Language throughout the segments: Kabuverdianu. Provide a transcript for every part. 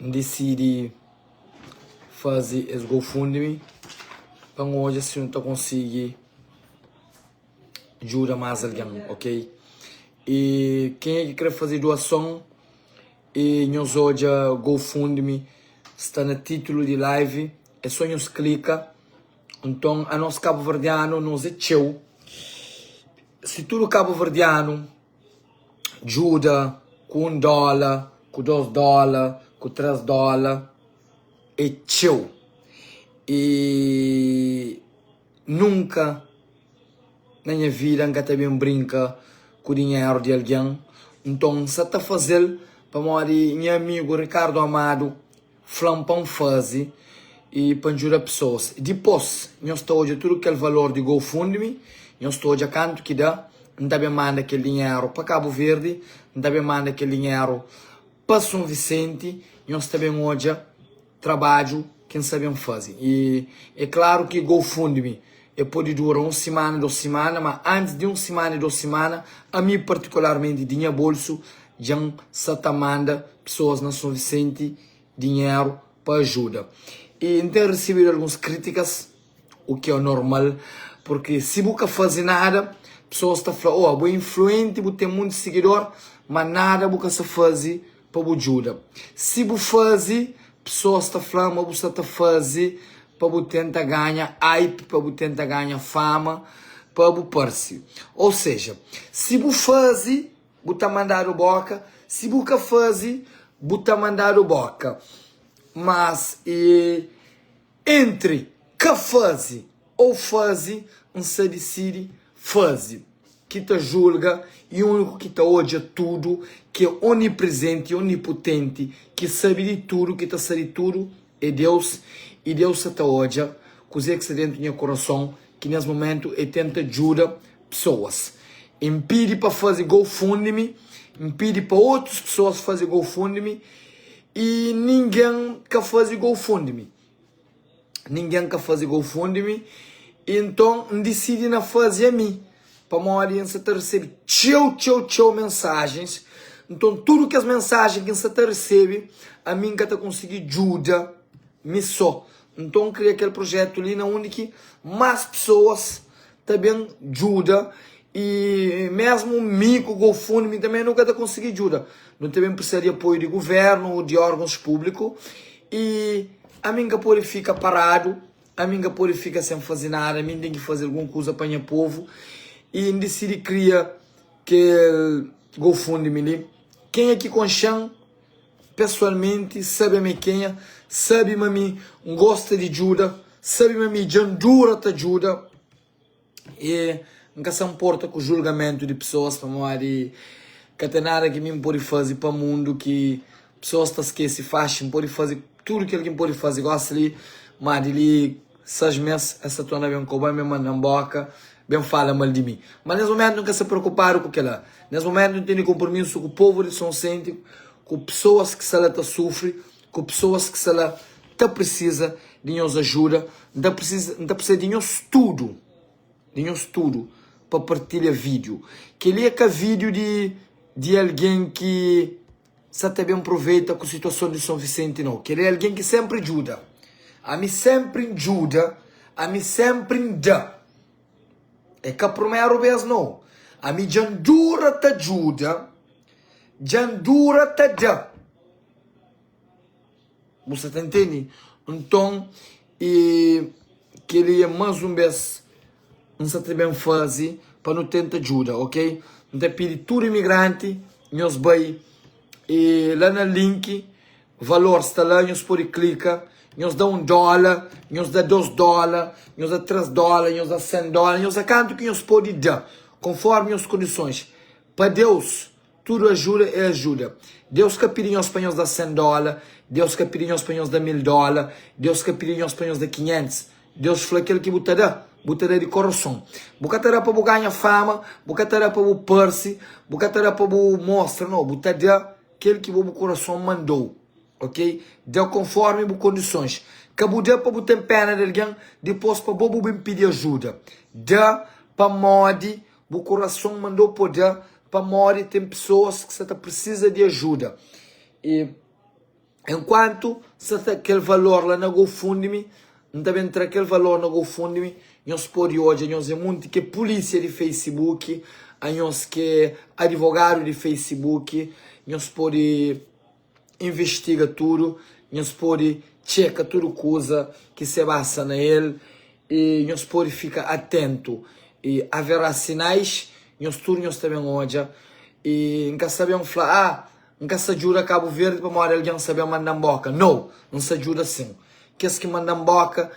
N disidi faze es GoFundMe pa N odja si nu ta konsigi djuda más algen, ok? E kenha ki kre faze duason e nhos odja GoFundMe sta na titulu di live e so nhos klika nton anos kabuverdianu nos e txeu si tudu kabuverdianu djuda ku un dóla ku dôs dóla ku três dóla é txeu i nunka na nha vida n ka ta ben brinka ku dinheru di algen nton n sa ta faze-l pamodi nha amigu Ricardo Amado Fla-m pa N faze i pa N djuda pesoas. Dipôs, nhos ta odja tudu kel valor di GoFundMe, nhos ta odja kantu ki da. N ta ben manda kel dinheru pa Kabu Verdi, N ta ben manda kel dinheru pa Son Visenti. Nhos ta ben odja trabadju ki N sta ben faze. I é klaru ki GoFundMe El pode dura un simana, dos simana, ma antis di un simana y dos simana, ami partikularmenti, di nha bolsu, dja N sa ta manda pesoas na Son Visenti dinheru pa ajuda. Y N ten risibidu alguns kritikas, o ki é normal, purki si bu ka fazi nada, pesoas ta fla, Oa, bu é influenti, bu ten monti sigidor, ma nada bu ka sa fazi. pa bu djuda. Si bu faze, pesoas ta fla ma bu sta ta faze pa bu tenta ganha hype, pa bu tenta ganha fama, pa bu parse. Ô seja, si bu faze, bu ta mandadu bóka, si bu ka faze, bu ta mandadu bóka. Mas e. Entri ka fazi o fazi, N sa disidi fazi. Ki ta julga i uniku ki ta odja tudu, ki é oniprezenti, oniputenti, ki sabi di tudu, ki ta sa di tudu, é Deus. I Deus sa ta odja kuzê ki sta dentu nha kurason, ki nes mumentu e tenta djuda pesoas. N pidi pa fazi GoFundMe, N pidi pa otus pesoas fazi GoFundMe. I ningen ka faze gou funde-mi Ningen ka faze gou funde-mi I nton N disidi na faze ami Pamodi N sa ta resebe txeu, txeu, txeu mensajens Nton tudu kes mensajen ki N sa ta resebe Ami N ka ta konsigi djuda mi so Nton N kria kel projetu li na undi ki más pesoas ta ben djuda i mésmu mi ku GoFundMe tanbê nu ka ta konsigi djuda. Nu ta ben prisa di apoiu di govérnu ô di órgons públiku. I ami N ka pode fika paradu, ami N ka pode fika sen faze nada, ami N ten ki faze algun kuza pa nha povu. I N disidi kria kel GoFundMe li. Kenha ki konxe-m? pesualmenti sabe ma é kenha sabe ma mi N gosta di djuda sabe ma mi dja N dura ta djuda e N ka sa nporta ku julgamentu di pesoas pamodi ka ten nada ki mi N pode faze pa mundu ki pesoas ta skese faxi N pode faze tudu kel ki N pode faze gosi li ma di li Sas mes es ta torna ben koba mi, mandan boka, ben fala mal di mi. Ma nes momentu N ka sta preokupadu ku kela. Nes momentu N tene konpromisu ku povu di Son Sente, ku pesoas ki sta la ta sufri, ku pesoas ki sta la ta prisiza di nhos ajuda. N ta prisiza, N ta prisiza di nhos tudu, di nhos tudu pa partilha video. Keli e ka video di di algen ki. Sa ta ben proveita ku situason di Son Visenti nau. Kel é algen ki senpri djuda. Ami senpri N djuda, ami senpri N da. É ka prumeru bes nau. Ami dja N dura ta djuda, dja N dura ta da. Bu sta ta ntende? Nton, i kel-li é más un bês N sta ta ben faze pa nu tenta djuda, ok? N ta pidi tudu imigranti nhos bai la na link, valor sta la, nhos pode klika, nhos da un dóla, nhos da dôs dóla, nhos da três dóla, nhos da sen dóla, nhos da kantu ki nhos pode da, konfórmi nhos kondisons. Pa Deus! Tudu ajuda é ajuda. Deus ka pidi nhos pa nhos da sen dóla, Deus ka pidi nhos pa nhos da mil dóla, Deus ka pidi nhos pa nhos da kinhentis. Deus fla, Kel ki bu ta da, bu ta da di korason. Bu ka ta da pa bu ganha fama, bu ka ta da pa bu parse, bu ka ta da pa bu mostra. Nau, bu ta da kel ki bo bu korason manda-u. Ok? Da konfórmi bu kondisons. Ka bu da pa bu ten péna di algen, dipôs pa bo bu ben pidi ajuda. Da pamodi Bu korason manda-u pâpia pamodi ten pesoas ki sta ta pirsisa di ajuda. I enkuantu N sta ta kel valor la na GoFundMe, N ta ben tra kel valor na GoFundMe, nhos pode odja nhos é monti ke pulisia di Facebook, a nhos ke adivogadu di Facebook, nhos pode. investiga tudu, nhos pode txeka tudu kuza ki se basa na el y nhos pode fika atentu y averá sinais nhos tudu nhos ta ben odja y n ka sta ben fla ah n ka sta djuda kabu verdi pamodi algen sta ben mandan boka no n sta djuda sin kes ki mandan boka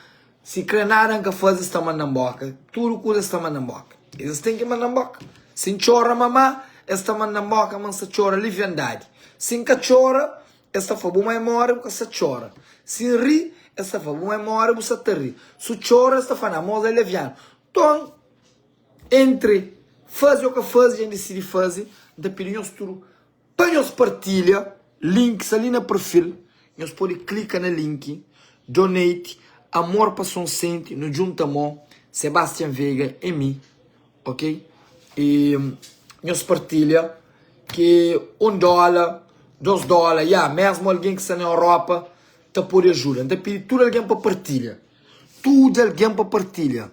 Si kre nada nka faze es ta manda nboka tudu kuza es ta manda nboka es ten ki manda nboka si ntxora mama es ta manda nboka ma nsa txora liviandadi si nka txora es ta fla bu ma e mora bu ka sa txora si nri es ta fla bu ma e mora bu sa ta ri su txora es ta fla na mos e levianu nton entre faze o ka faze dja ndisidi faze nta pidi nhos tudu. Pa nhos partilha link sta li na perfil nhos pode klika na link donate amor pa son senti nu djunta mô sebastian vega e mi ok e nhos partilha ke un dola dos dola ya mesmu algen ki sta na europa ta pode ajuda nta pidi tudu algen pa partilha tudu algen pa partilha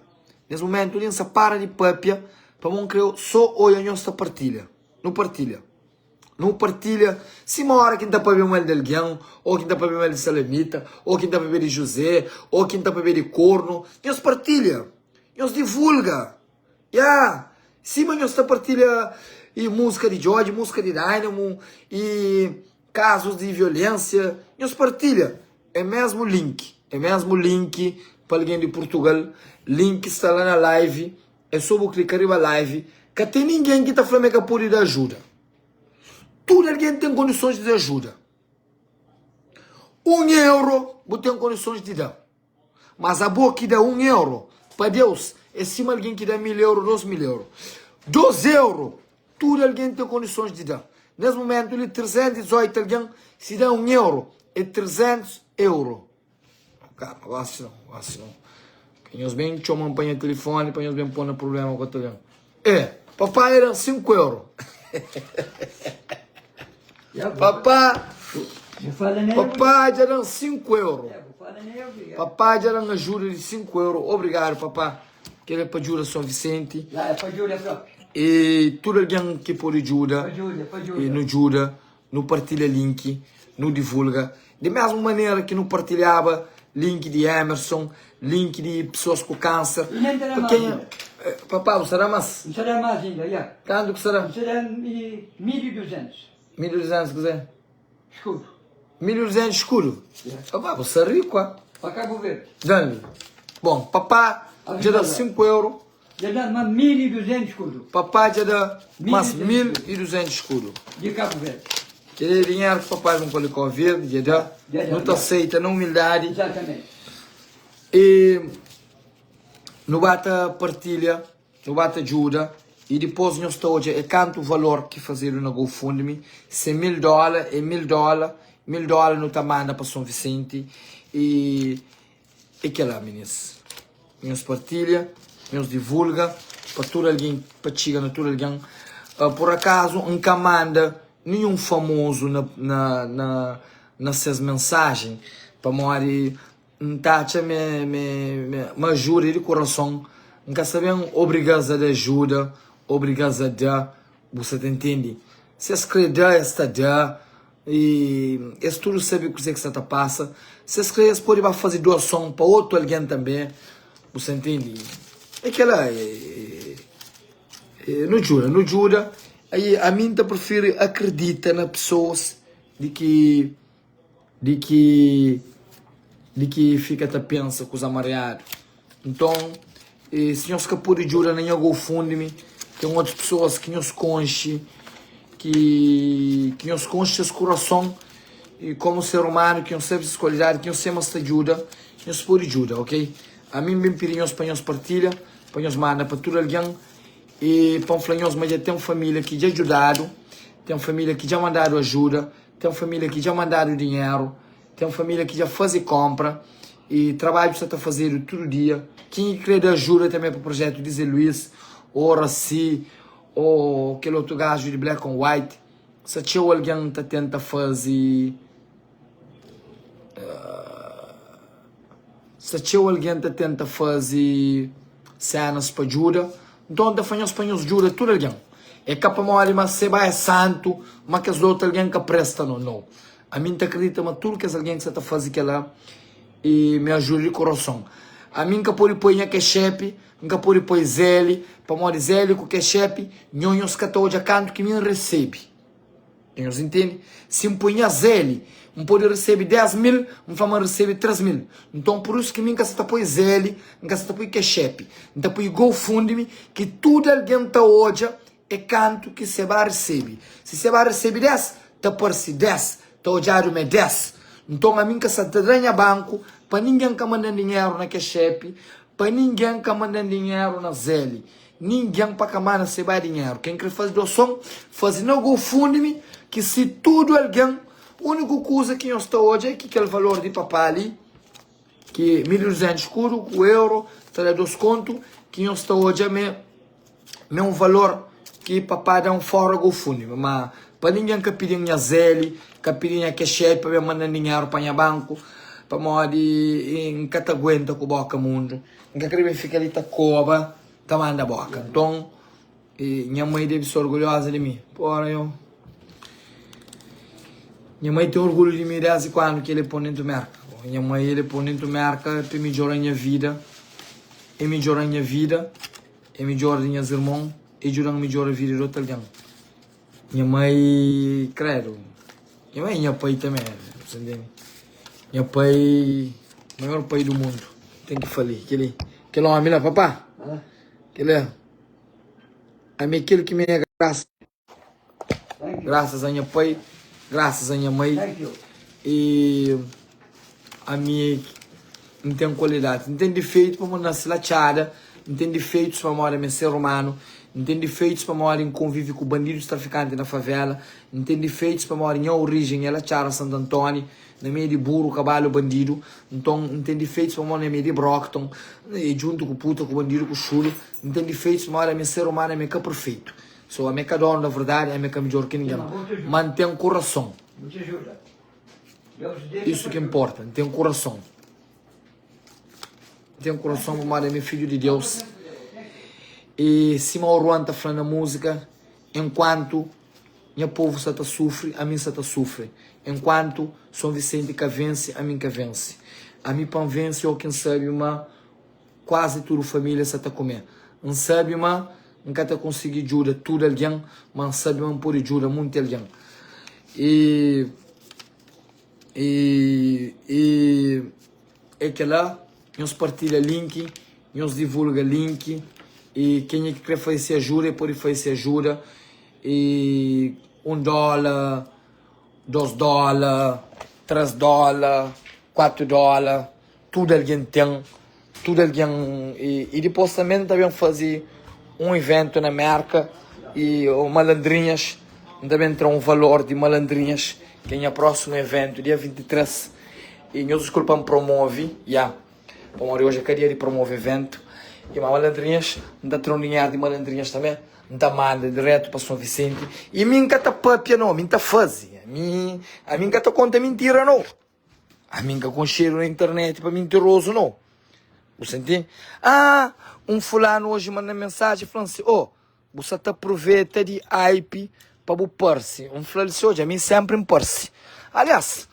nes mumentu li nsa para di papia pamo n kre so oia nhos ta partilha. Nu partilha. Nu partilha sima óra ki N ta pabia mal di algen, ô ki N ta pabia mal di Salamita, ô ki N ta pabia di Juzé, ô ki N ta pabia di kornu. Nhos partilha. Nhos divulga. Ya! Sima nhos ta partilha i múzika di Djodje, múzika di Dynamo, i kazus di violénsia, nhos partilha. É mésmu link. É mésmu link pa algen di Purtugal. Link sta la na live. É só bu klika riba live. Ka ten ningen ki ta fla ma e ka pode da ajuda. Tudu algen ten kondisons di da ajuda. Un euro bu ten kondisons di da. Mas abo ki da un euro, pa Deus é sima algen ki da mil euro, dos mil euro. Dos euro, tudu algen ten kondisons di da. Nes mumentu li, 318 algen si da un euro, é 300 euro. Kaba ase não, ase não. Ka nhos ben txoma-m pa nha telefone, pa nhos ben pô-m na prubléma ku Ataliano. Ê, papá nha da-m sinku euro. Papá, papá dja da-m sinku euro. Papá dja da-m ajuda di sinku euro. Obrigadu, papá. Kel é pa djuda Son Visenti. E tudu algen ki pode djuda, nu djuda. Nu partilha link, nu divulga di mesmu manera ki nu partilhaba link di Emerson, link di pesoas ku kanser. E nen ta da más inda. Papá, bu sta da más? N sta da más inda, ya. Kantu ki sta da? N sta da mil i duzentus. Mil i duzentus kuzê? Skudu. Mil i duzentus skudu? Ya. Papá, bu sta riku, a. Pa Kabuverdi. Djande? Bon, papá dja da sinku euro. Dja da ma mil y duzentus kudu. Papá dja da mas mil y duzentus kudu. Di Kabu Verdi. Kel-li é dinheru ki papá di un palikó verdi dja da. Dja da. Nu ta seita na umildadi. Exatamente. E nu ba ta partilha, nu ba ta djuda y dipos nhos ta odja é kantu valor ki fazedu na GoFundMe, si é mil dóla, é mil dóla, mil dóla nu ta manda pa Son Visenti y. É kela minês nhos partilha, nhos divulga pa tudu algen, pa txiga na tudu algen. Pur akazu N ka manda ninhun famozu na ses mensajen, pamodi N ta atxa ma ajuda é di kurason. N ka sta ben obriga-s a da ajuda, obriga-s a da, bu sta ta ntende? Si es kre da, es ta da. E es tudu sabe kuzê ki sta ta pasa. Si es krê, es pode ba faze duason pa otu algen tanbê. Bu sta ntende? É kel-la. Nu djuda, nu djuda. Ami N ta prifiri akridita na pesoas di ki, di ki, di ki fika ta pensa kuza mariadu. Nton, si nhos ka pode djuda na nha GoFundMe, ten otus pesoas ki nhos konxe ki ki nhos konxe ses kurason i komu ser umanu ki nhos sabe ses kualidadi ki nhos sema sta djuda nhos pode djuda ok ami n bin pidi nhos pa nhos partilha pa nhos manda pa tudu algen i pa n fla nhos ma dja ten família ki dja djudadu ten família ki dja mandadu ajuda ten família ki dja mandadu dinheru Ten família ki dja faze kónpra i trabadju sta ta fazedu tudu dia. Ken ki krê da ajuda tanbê pa prujétu di Zé Luís ô Raci ô kel otu gaju di Black on White, sta txeu algen ta tenta faze sta txeu algen ta tenta faze sénas pa djuda. Nton, N ta fla-nhos pa nhos djuda tudu algen. É ka pamodi ma seba é santu ma kes otu algen ka presta no. Nau! Ami n ta kridita ma tudu kes algen ki sa ta fazi kela e mi ajuda di kurason. Ami n ka podi poi nha kexepi, n ka podi poi Zeli, pamodi Zeli ku kexepi nhonhos ka ta odja kantu ki mi n resebi. Nhonhos intende? Si n poi nha Zeli, n podi resebi dés mil, n fla ma n resebi trés mil. Nton, pur isu ki mi n ka sa ta poi Zeli, n ka sa ta poi kexepi. N ta poi GoFundMe ki tudu algen ta odja É kantu ki Sebá resebe. Si Sebá resebe dés, ta parse dés, ta odjadu ma é dés. Nton, ami N ka sta ta da nha banku pa ningen, N ka manda-m dinheru na kes xépi pa ningen, N ka manda-m dinheru na Zeli. Ningen pa ka manda Sebá dinheru. Ken krê faze duason, faze na GoFundMe, ki si tudu algen, úniku kuza ki nhos ta odja é ki kel valor di papá li. Ki milhu dezenhu skuru ku euro ta da dos kontu ki nhos ta odja ma é un valor ki papá da un fóra gofundmi ma pa ningen ka pidi-m nha zeli ka pidi nha kexedi pa ben manda-m dinheru pa nha banku pamodi n ka ta aguenta ku boka mundu n ka kre ben fika li ta koba ta manda boka nton E nha mai debe ser orgulhoza di mi. Pora yo. Nha mai tem orgulho di mi desde quando que ele pon dentro merca. Nha mai ele pon dentro merca pe midjora nha vida. E midjora nha vida, e midjora di nhas irmon, e djudan midjora vida di outro alguém. Nha mai credo, nha mai e nha pai também, você entende? Nha pai, maior pai do mundo, tem que fali, keli, kel homem lá, papá, keli. Ami é kel ki mi é grasa. Grasas a nha pai, grasas a nha mai, e ami é ki N ten kualidadis. N ten difeitus pamodi N nase la txada, N ten difeitus pamodi ami é ser umanu, N ten difeitus pamodi N konvive ku bandidus trafikantis na favela, N ten difeitus pamodi nha orijen é la txada Santu Antoni. N mê di buru, kabalu, bandidu N ton N ten difeitus pamó N mê di brokton N ê djuntu ku puta, ku bandidu, ku xulu N ten difeitus ma ódi amê ser umanu amê ka perfeitu So amê ka donu da verdadi amê ka midjor ki ningen ma N ten kurason Isu ki nporta N ten kurason N ten kurason pamodi amê fidju di Deus E sima Oruan ta fla na muzika Enkuantu nha povu sa ta sufri, ami sa ta sufri. Enkuantu Son Visenti ka vense, ami ka vense. Ami pa N vense, oki N sabe ma kuazi tudu familia sa ta kume. N sabe ma N ka ta konsigi djuda tudu algen, ma N sabe ma N pode djuda munti algen. I. I. I. É kela, nhos partilha link, nhos divulga link e kenha ki kre faze se ajuda e pode faze se ajuda e un dola, dos dola, tres dola, kuatu dola, tudu algen ten, tudu algen e e dipos tanbe nta ben faze un evento na Merka e o malandrinhas nta ben tra un valor di malandrinhas ke nha prosimu evento dia 23. E nhos diskulpa pa N promove, ya Pamodi oji é ka dia di promove eventu E ma malandrinhas N ta tra un dinheru di malandrinhas tanbe N ta manda diretu pa Son Visenti E mi N ka ta pâpia no mi N ta faze Ami ami N ka ta konta mintira no Ami N ka konxedu na internet pa mintirozu no Bu senti? Aa Un fulanu oji manda-m mensaji fla-m si, Ô Bu sa ta proveta di hype pa bu parse. N fla-l si, Odja, mi sénpri N parse. Aliás,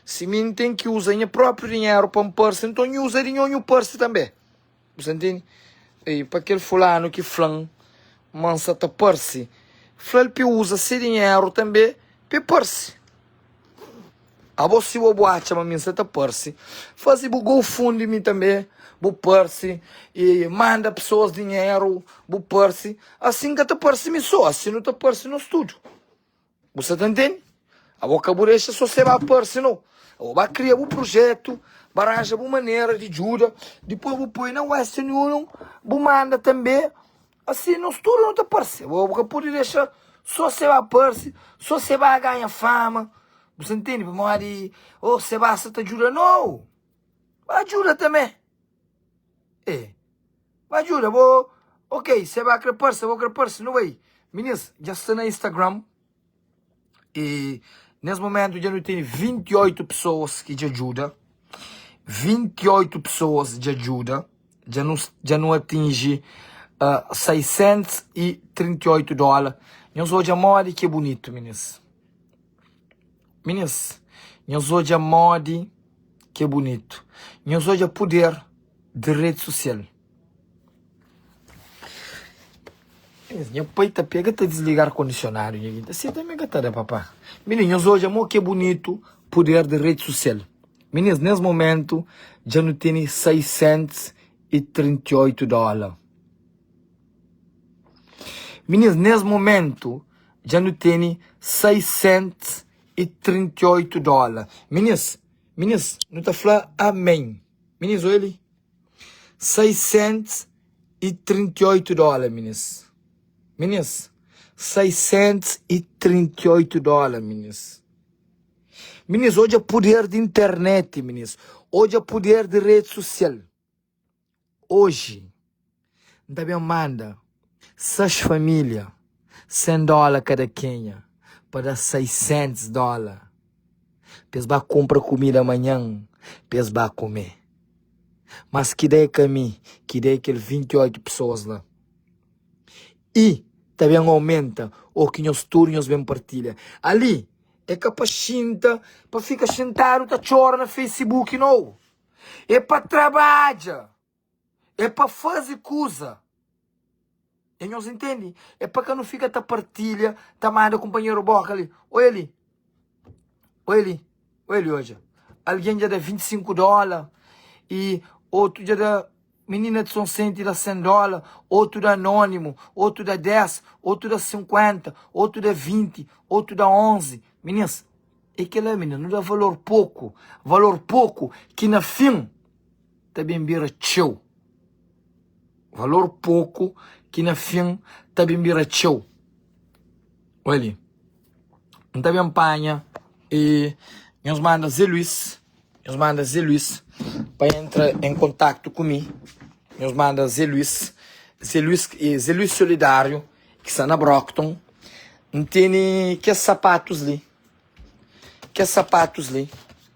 si mi N ten ki uza nha própi dinheru pa N parse, nton nhu uza di nho, nhu parse tanbê. Bu sta ntende? Ei, pa kel Fulanu ki fla-m ma N sa ta parse, fla-l pa e uza se dinheru tanbê pa e parse. Abo si bo bu atxa ma mi nsa ta parse faze bu GoFundMe mi tanbe bu parse e manda pesoas dinheru bu parse asi n ka ta parse mi so asi nu ta parse nos tudu bu sa ta ntende abo ka bu dexa so se ba parse no abo ba kria bu prujetu ba ranja bu manera di djuda dipoi bu poi na western union bu manda tanbe Asi nos tudu nu ta parse. Bo ka pudi dexa so se ba parse, so se ba ganha fama, bu sa ntende pamodi oh se ba sa ta djuda nau, ba djuda tamê ê, ba djuda bo ok se ba kre parse bo kre parse nu bai minins dja sta na instagram. E nes momentu dja nu ten 28 pesoas ki dja djuda, 28 pesoas dja djuda, dja nu dja nu atinji 638 dóla, nhos odja modi ki é bunitu minis, minis, nhos odja modi ki é bunitu, nhos odja puder di redi sosial. Nha pai ta pega ta disliga ar kondisionadu nha ki ta seta mi ka ta da papá minin nhos odja mo ke bunitu puder di redi susial minins nes momentu dja nu teni 638 dola minins nes momentu dja nu teni 638 dola minins minins nu ta fla amén minins oja li. 638 dóla minis Minis 638 dóla minis Minis odja puder di internet minis Odja puder di rede sosial Oji N ta ben manda Sas família, sen dóla kada kenha, pa da saisentes dóla, pa es ba kunpra kumida manhan, pa es ba kume. Mas ki da é ka mi ki dei kel vinti i oitu pesoas la. I ta ben aumenta, o ki nhos tudu nhos ben partilha. Ali, é ka pa xinta, pa fika xintadu ta txora na Facebook, nau! É pa trabadja! É pa faze kuza. É nhos intende? É pa ka nu fika ta partilha, ta manda kunpanheru boka li. Oja li. Oja li. Oja li oja. Algen dja da 25 dóla i otu dja da. Minina di Son Senti da 100 dóla, otu da anónimu, otu da 10, otu da 50, otu da 20, otu da 11. Minins, é kela, minina. Nu da valor poku. Valor poku ki na fin. ta ben bira txeu Valor poku ki na fin ta ben bira txeu Oi li N ta ben panha e Nhos manda Zé Luís Nhos manda Zé Luís Pa entra en kontaktu ku mi Nhos manda Zé Luís Zé Luís e Zé Luís Solidáriu Ki sta na Brockton N tene kes sapatus li Kes sapatus li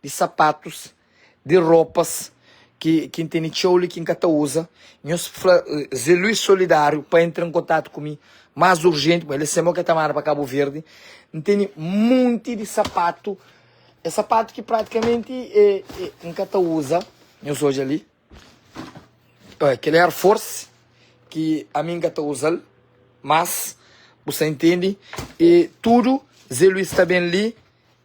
di sapatus, di ropas ki ki N tene txeu li ki N ka ta uza. Nhos fla Zé Luís Solidáriu pa entra N kontatu ku mi más urjenti, ma el é sema o ke ta manda pa Kabu Verdi. N tene monti di sapatu, e sapatu ki pratikamenti e e N ka ta uza. Nhos odja li. Oi, kel Air Force ki ami n ka ta uza-l más, bu sta intende. E tudu Zé Luís ta ben li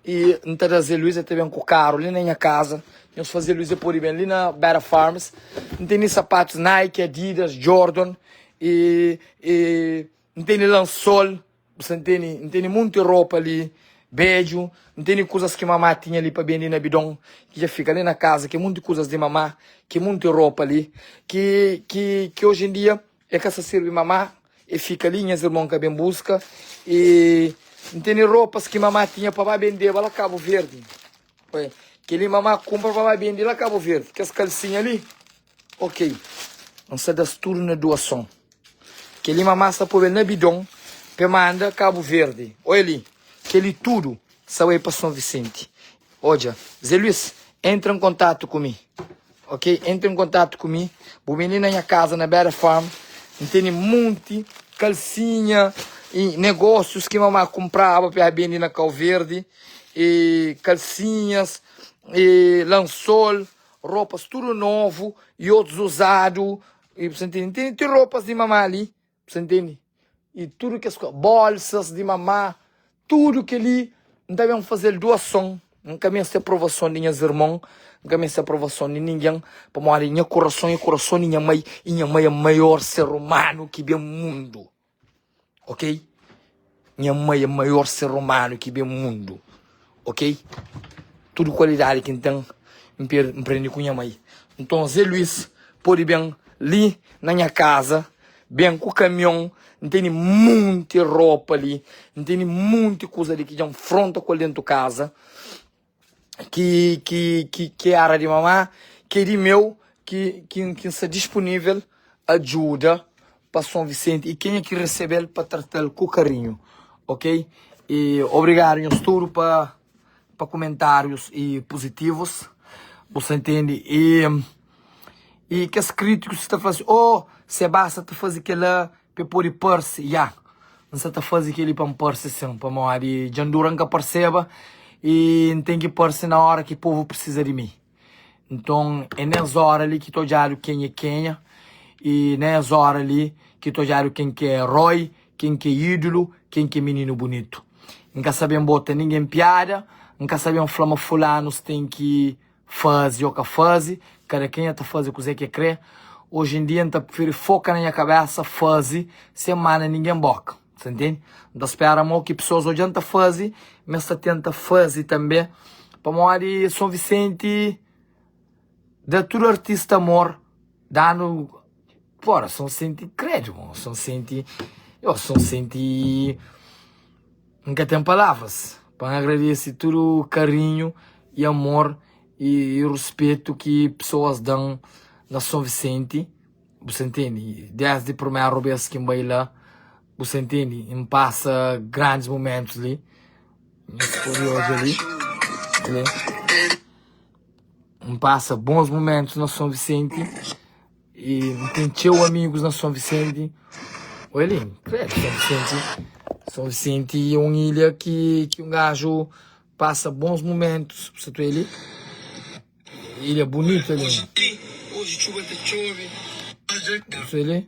i N ta da Zé Luís, el ta ben ku karu li na nha kaza. Nhos fla Zé Luís el pode ben li na Bera Farms. N tene sapatus Nike, Adidas, Jordan i. N tene lansol, bu sta ntende? N tene monti ropa li bedju, N tene kuzas ki mama tinha li pa bende na bidon ki dja fika li na kaza, ki é monti kuzas di mama, ki é monti ropa li ki ki ki oji en dia el ka sta sirbi mama, el fika li, nhas irmon ka ben buska i N tene ropas ki mama tinha pa ba bendeba la Kabu Verdi, kel li mama kunpra pa ba bende la Kabu Verdi, kes kalsinha li. Ok N sa das tudu na duason Keli mama sa pobe na bidon Pe manda kabu verdi Oia li Keli tudu sa bai pa son visenti Odja Ze luis Entra n kontatu ku mi Ok Entra n kontatu ku mi Bu ben li na nha kaza na bera farm N tene monti kalsinha y negosius ki mama kunpraba pa ela bendi na kau verdi y kalsinhas y lansol. Ropas tudu novu y otus uzadu, y bu sa ntende, ntende, ti ropas di mama li, bu sa ntende, y tudu kes kuza, bolsas di mama, tudu kel-li N ta ben faze-l duason, N ka meste aprovason di nhas irmon, N ka meste aprovason di ningen, pamodi nha kurason é kurason di nha mai, y nha mai é maior ser umanu ki ben mundu. ok? Nha mai é maior ser humano ki ben mundo, ok? Tudo qualidade ki n'ten n'prende ku nha mai. Nton Zé Luiz pode ben li na nha casa, ben ku caminhon, n'teni monte ropa li, n'teni monte kuza li ki dja n'fronta ku el dentro casa, ki ki ki ki era di mamá ki é di meu ki ki ki n sta dispunível ajuda pa son visenti i kenha ki resebel pa tratal ku karinhu ok i obrigadu nhos tudu pa pa kumentárius i puzitivus bu sta ntende i i kes krítikus ki sta fla ô sebas sa ta faze kela Pa e pode parse, ya. N sa ta faze kel-li pa N parse sin, pamodi dja N dura N ka parseba i N ten ki parse na óra ki povu prisiza di mi. Nton, é na es óra li ki ta odjadu ken é kenha i na es óra li ki ta odjadu ken ki é eroi, ken ki é ídulu, ken ki é mininu bunitu. N ka sabe N bota ningen piada, N ka sabe N fla ma fulanus ten ki Faze o ka faze, kada kenha ta faze kuze ke kre. Oji en dia n'ta preferi foka na nha kabesa, faze, sen manda ningen boka. Ta ntende? N'ta spera mo ki pesoas odjan ta faze, m'es ta tenta faze tanbe, pamodi Son Visenti da tudu artista amor, danu. Bora, só n senti krédu, mon. Só n senti, yo só n senti, n ka ten palavras pa n agradese tudu karinhu y amor y ruspetu ki pesoas da-m na São Vicente, bu sa ntende, desdi primeru bes ki n bai la, bu sa ntende, n pasa grandis momentus li, nhas kuriózu li, N pasa bons momentus na Son Visenti e n ten txeu amigus na Son Visenti. Oi li, credo, Son Visenti, Son Visenti é um ilha que, que um gajo passa bons momentos, você tu ele, ilha bonita ali. Você ele?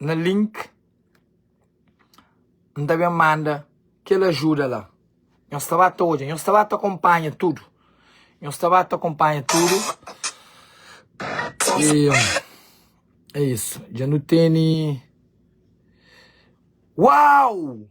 na link N ta ben manda kel ajuda la Nhos ta ba ta odja Nhos ta ba ta konpanha tudu Nhos ta ba ta konpanha tudu E é isu dja nu teni Uau!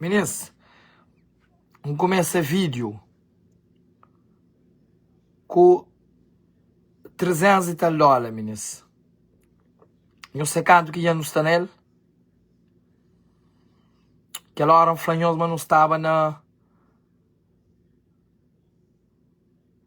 Minis, N kumesa vídiu ku trezentus i tal dóla, minis. Nhos sai kantu ki dja nu sta na el? Kel óra N fla nhos ma nu staba na.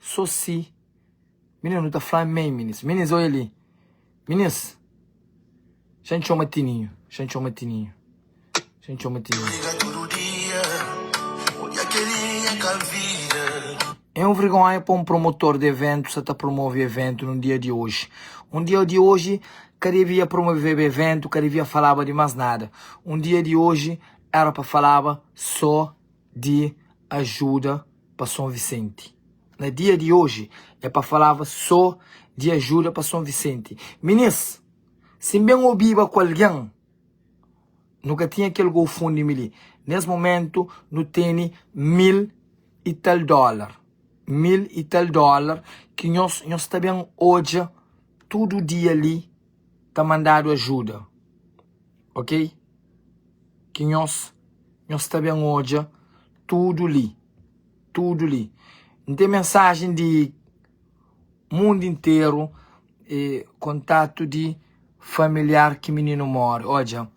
So si Minis nu ta fla amen Minis Minis oi li Minis Xa N txoma Tininhu Xa N txoma Tininhu Xa N txoma Tininhu É un vergonha pa un promotor de eventu sa ta promove eventu nun dia di oji. Un dia di oji ka devia promoveba eventu, ka devia falaba di mas nada. Un dia di oji era pa falaba so di ajuda pa Son Visenti na dia di oji é pa falaba so di ajuda pa Son Visenti minis sin ben obiba ku algen nu ka tinha kel gofundimi li nes momentu nu teni mil i tal dolar mil i tal dolar ki nhos nhos ta ben odja tudu dia li ta mandadu ajuda ok? Ki nhos, nhos ta ben odja tudo li, tudo li. N tem mensagem di mundo inteiro e contato di familiar ki minino more, odja,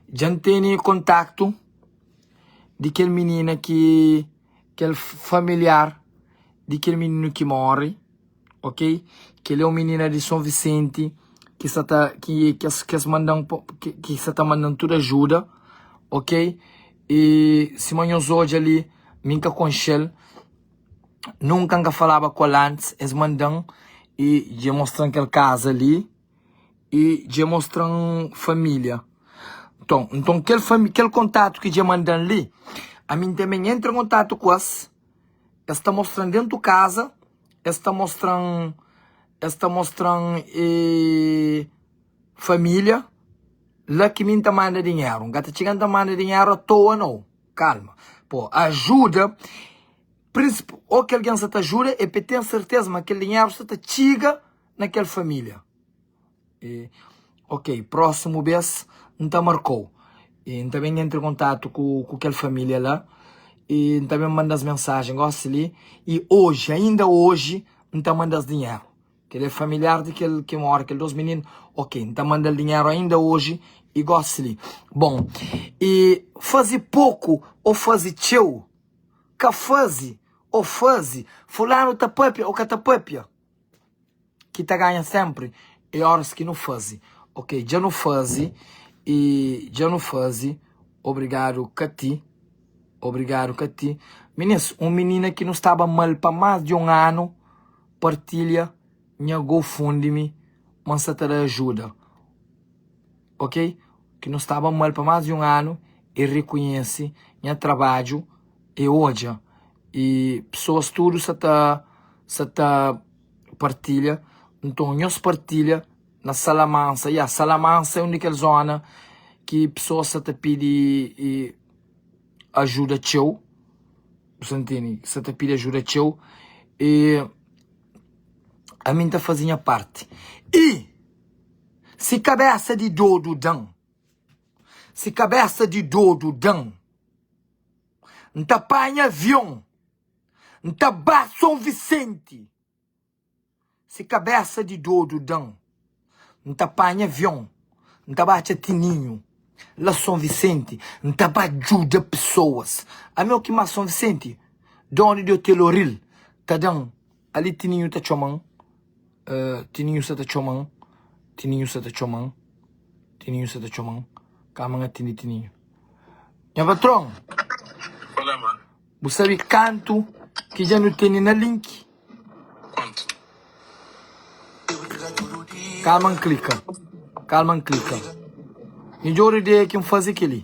dja N teni contato di kel minina ki, kel familiar di kel minino ki more, ok? Que ele é um menina de São Vicente que sa ta que que que as mandam que que sa ta mandam tudo ajuda, ok? E se manhos hoje ali mim cá com Shell nunca cá falava com antes eles mandam e de mostrar aquela casa ali e de mostrar família, então então aquele fami aquele contato que de mandam ali a mim também entra em contato com eles eles ta mostram dentro casa es ta mostra-m es ta mostra-m e família la ki mi n ta manda dinheru n ka ta txiga n ta manda dinheru atoa nau kalma po ajuda prinsip o ki algen sa ta ajuda e pe ten serteza ma kel dinheru sa ta txiga na kel família E, ok, prósimu bês N ta marka-u. E N ta ben entra i kontatu ku ku kel família la i N ta ben manda-s mensajen gósi li. I oji, ainda oji, N ta manda-s dinheru. Kel-li é familiar di kel ki móre kel dôs mininu. Ok, N ta manda-l dinheru ainda oji i gósi li. Bon, i faze poku ô faze txeu? Ka faze ô faze? Fulanu ta pâpia ô ka ta pâpia? ki ta ganha senpri é óras ki nu faze ok dja nu faze i dja nu faze obrigadu kati obrigadu kati minis un minina ki nu staba mal pa más di un anu partilha nha gofundme ma n sa ta da ajuda ok ki nu staba mal pa más di un anu el rekonhese nha trabadju el odja e pessoas tudo sa ta sa ta partilha então nhos partilha na sala mansa ya sala mansa é um di kel zona ki pessoas sa ta pidi ajuda txeu bu sa intende sa ta pidi ajuda txeu e ami ta fazi nha parti e se cabeça de dodo dan se cabeça de dodo dan. N ta panha avion. N ta ba Son Visenti. Si kabésa di dodu da-m. N ta panha avion. N ta ba atxa Tininhu. La Son Visenti. N ta ba djuda pesoas. Ami o ki más Son Visenti. Dónu di Otel Oril ta da-m Ali Tininhu ta txoma-m Tininhu sa ta txoma-m Tininhu sa ta txoma-m Tininhu sa ta txoma-m Kama N atindi Tininhu Nha patron, bu sabe kantu ki dja nu tene na link? Kama N klika Kama N klika Midjór ideia ki N faze kel-li.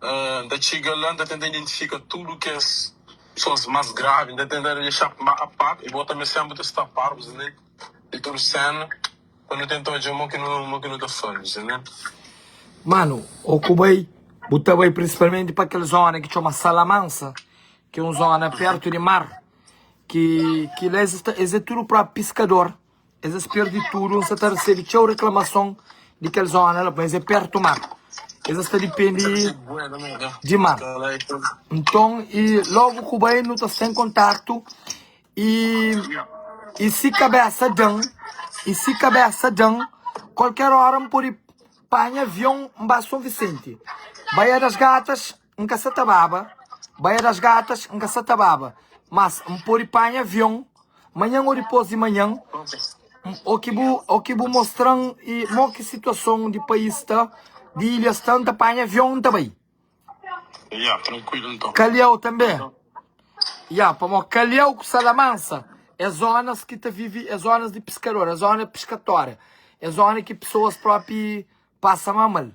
N ta txiga la, N ta tenta identifika tudu kes kusos más gravi, N ta tenta dexa má a par, i bo tanbê sénpri ta sta par, bu sibi, di tudu séna, pa nu tenta odja mo ki nu, mo ki nu ta faze, bu sibi. Manu, Ô ku bai, bu ta bai prinsipalmenti pa kel zóna ki txoma Salamansa, ki é un zóna pértu di mar, ki ki la es é tudu própi piskador. Es es perdi tudu, N sa ta resebe txeu reklamason di kel zóna la, pamodi es é pértu mar. Es es ta dipende di mar. Nton, i lógu ku bai nu ta sta en kontátu, i i si kabésa da-m, i si kabésa da-m, kualker óra N pode panha avion N ba Son Visenti, bai Adas Gatas. N ka sa ta baba Baia das Gatas N ka sa ta baba Mas N pode panha avion Manhan ô dipôs di manhan Ô ki bu ô ki bu mostra-m i Mô ki situason di pais sta Di ilha sta N ta panha avion N ta bai Ya, trankuilu nton Kaliau tanbe Ya, pamô Kaliau ku Salamansa é zónas ki ta vive é zónas di piskador é zónas piskatória é zónas ki pesoas própi pasa má mal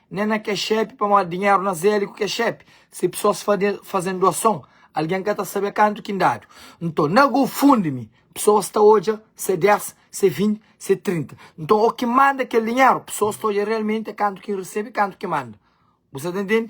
Nen na ke xepe, pamodi dinheru na zeli ku ke xepe. Si pesoas faze-m duason, algen ka ta sabe kantu ki N dadu. Nton, na GoFundMe, pesoas ta odja se dés, se vinti, se trinta. Nton, o ki manda kel dinheru, pesoas ta odja realmenti é kantu ki N resebe, kantu ki N manda. Bu sta ta ntende?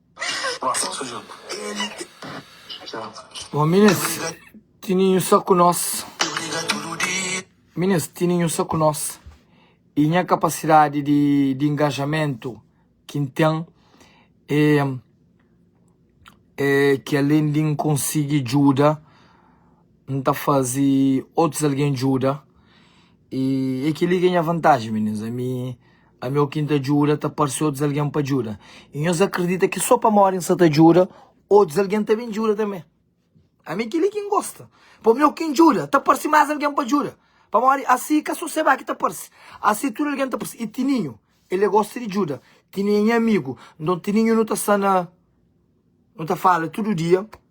Bom minis tininhu sa ku nos minis tininhu sa ku nos e nha kapasidadi di di ingajamentu ki N ten e e ki alen di N konsigi djuda N ta fazi otus algen djuda e e kel li ki é nha vantaji minis ami Ami o ki N ta djuda ta parse otus algen pa djuda, i nhos akredita ki sô pamodi N sta ta djuda, otus algen ta ben djuda tanbê. Ami é kel-li ki N gosta, pa mi o ki N djuda ta parse más algen pa djuda, pamodi asi ka sô Sebá ki ta parse, asi tudu algen ta parse. I Tininhu, el é gosta di djuda, Tininhu é nha amigu, nton Tininhu nu ta sta na, nu ta fala tudu dia.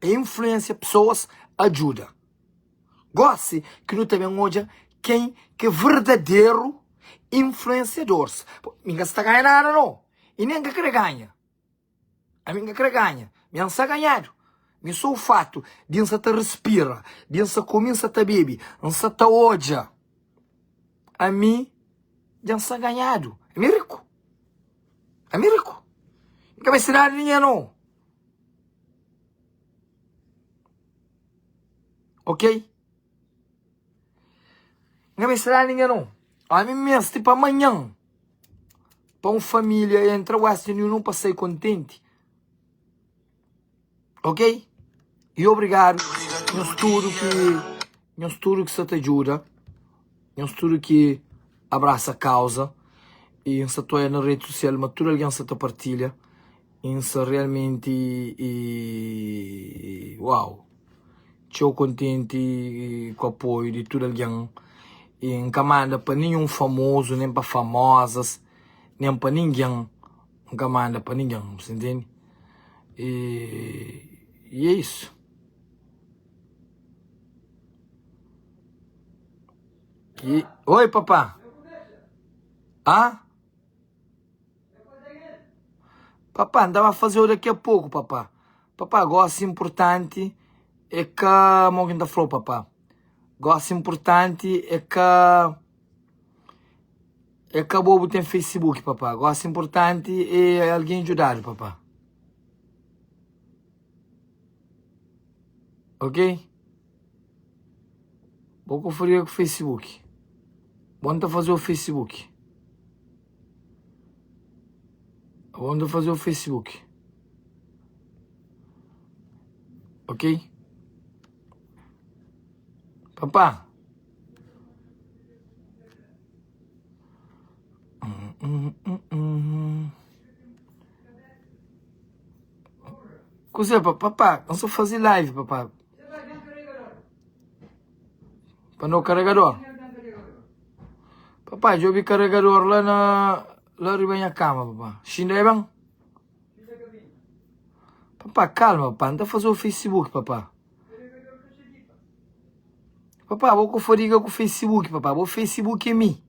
É influensia pesoas adjuda. Gosi ki nu ta ben odja ken ki é verdaderu influensiadors. Mi ka sta ganha nada no, i nen ka kre ganha. Ami ka kre ganha, mi ansa ganhadu. Mi so o fatu di nsa ta respira, di nsa komi, nsa ta bebe, nsa ta odja, ami dja nsa ganhadu. Ami riku. Ami riku. Mi ka meste nada di ningen no. Ok Nha mei sta dá-m dinheru Ome meste pa manhan Pa um família entra Western Union pa sai kontenti Ok E obrigado Nhos tudo ki Nhos tudu ki sta ta djuda, nhos tudu ki abrasa kauza y N sta ta oia na redi sosial ma tudu algen sta ta partilha y N sta realmenti wow txeu kontenti ku apoiu di tudu algen y N ka manda pa ninhun famozu nen pa famozas nen pa ningen N ka manda pa ningen bu sta intendi y é isu. Oi papá Ahn Papá N ta ba faze-u daqui a pouco papá Papá gosi importanti é ka Mo ki N ta fla-u papá Gosi importanti é ka É ka bo bu ten facebook papá Gosi importanti é algen djuda-du papá Ok? Bo ku faria ku Facebook. Bo nta faze o Facebook. Bo nta faze o Facebook. Ok? Papá. Hum, hum, hum, hum. Kuzê pa papá? N sa faze live papá Pa no karegador? Papá djobe karegador la na La riba nha kama papá Xinda é ben? Papá kalma papá N ta faze o facebook papá Papá bo ka fadiga ku facebook papá Bo facebook é mi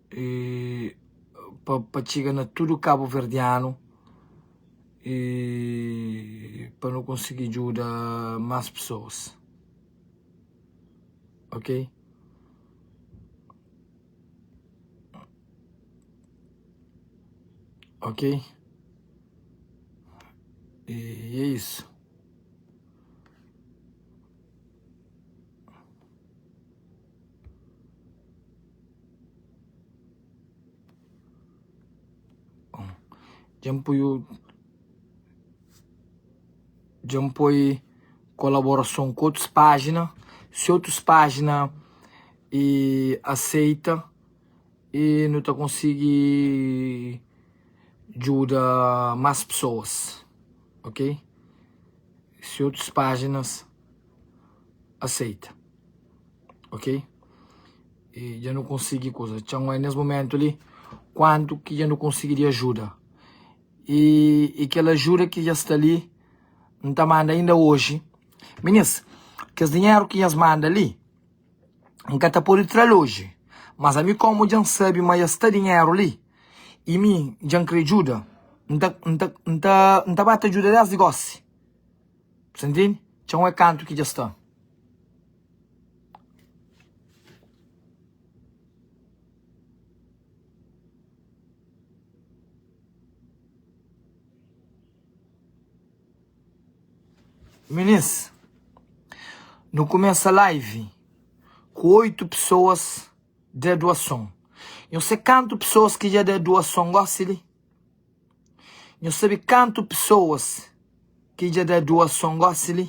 e pa pa txiga na tudu kabuverdianu e pa nu konsigi djuda más pesoas ok ok e é isu Dja N poi otu Dja N poi kolaborason ku otus pájina Si otus pájina e aseita e nu ta konsigi djuda más pesoas ok Si otus pájinas aseita ok e dja nu konsigi kuza txeu mas nes momentu li kuantu ki dja nu konsigi di ajuda e e kel ajuda ki dja sta li N ta manda ainda oji minis kes dinheru ki nhas manda li N ka ta podi tra-l oji mas ami komu dja N sabi ma dja sta dinheru li e mi dja N kre djuda N ta N ta N ta ba ta djuda desdi gosi Sa ntende? Txon é kantu ki dja sta. Minis, nu kumesa live ku oitu pesoas da duason. Nhos sé kantu pesoas ki dja da duason gosi li? Nhos sabe kantu pesoas ki dja da duason gósi li?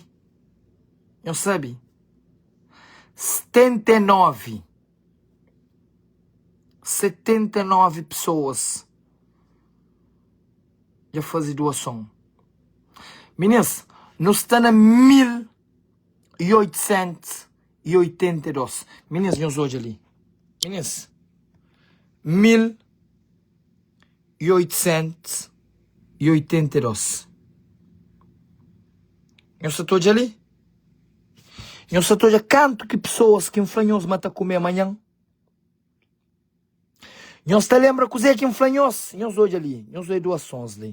Nhos sabe? 79. 79 pesoas dja faze duason. Minis, nu sta na 1882. Minis, nhos odja li. Minis, 1882. i oitosentus i oitenta i dôs Nhos sa ta odja li? Nhos sa ta odja kantu ki pesoas ki N fla nhos ma ta kume manhan? Nhos ta lenbra kuzê ki N fla nhos? Nhos odja li, nhos odja duas sons li.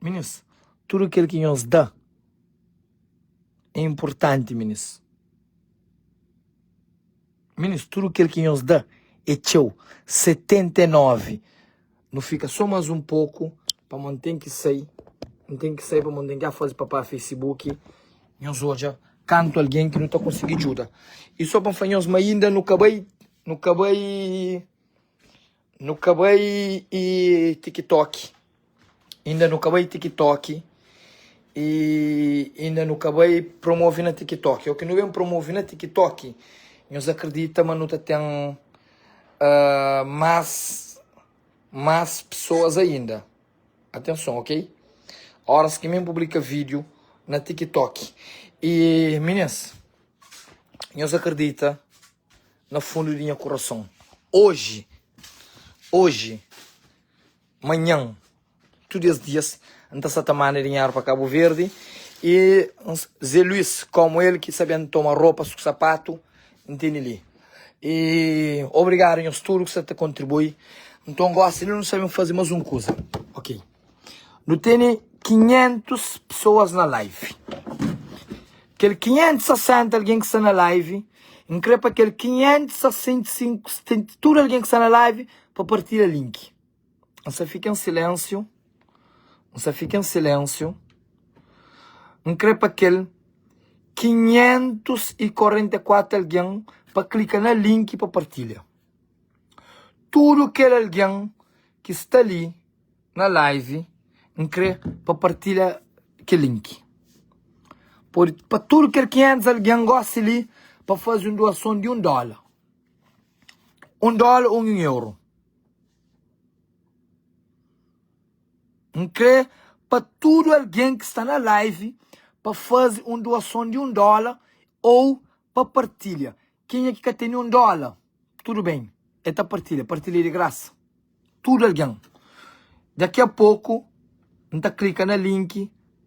Minis, Tudu kel ki nhos da é inportanti, minis. Minis, Tudu kel ki nhos da é txeu. 79, Nu fika sô más un poku, pamô N ten ki sai, N ten ki sai pamô N ten ki a faze papá fesibuki. Nhos odja kantu algen ki nu ta konsigi djuda. I sô pa N fla nhos ma inda nu ka bai, nu ka bai Nu ka bai y tiktok inda nu ka bai tiktok y inda nu ka bai promovi na tiktok oki nu ben promovi na tiktok nhos akredita ma nu ta ten mas mas pesoas ainda atenson ok oras ki mi ben publika video na tiktok y minins nhos akredita na fundu di nha kurason Oji, oji, manhan Tudu es dias N ta sa ta manda dinheru pa Kabu Verdi i N sa Zé Luís, kómu el ki ta ben toma ropas ku sapatu N tene li i Obrigadu nhos tudu ku sa ta kontribui Nton gosi li nu sa ben faze más un kuza Ok. Nu tene 500 pesoas na live Kel 560 algen ki sta na live N krê pa kel 565 Tudu algen ki sta na live Pa partilha link N sa fika en silensiu N sa fika en silensiu N krê pa kel 544 algen Pa klika na link pa partilha Tudu kel algen ki sta li na live n kre pa partilha ke link pode pa tudu kel 500 algen gosi li pa faze un doason di un dola un dola un euro n kre pa tudu algen ki sta na live pa faze un doason di un dola ou pa partilha Kenha ki ka teni un dola, tudu ben, el ta partilha, partilha di grasa, tudu algen. Daki a poku N ta klika na link,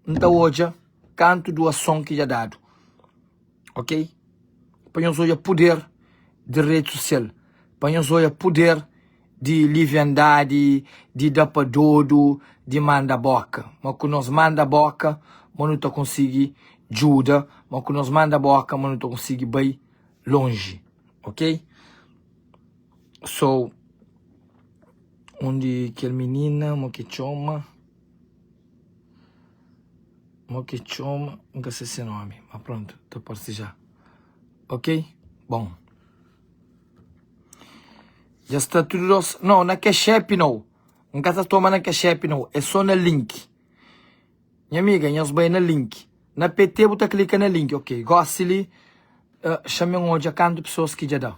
N ta odja kantu duason ki dja dadu, ok. Pa nhos odja puder di redi sosial, pa nhos odja puder. di liviandadi, di da pa dodu, di manda boka. Ma ku nos manda boka ma nu ta konsigi djuda, ma ku nos manda boka ma nu ta konsigi bai lonji. Ok? So, un di kel minina, mo ke txoma, mo ke txoma, N ka se se nomi, ma prontu, ta parse ja. Ok? Bon. Dja sta tudo dos. Não, na cash app não. N ka ta toma na cash app não. É só na link. Nha amiga, nhos bai na link. Na pt bu ta clica na link, ok. Gosi li, ah, xame N odja kantu pessoas ki dja da.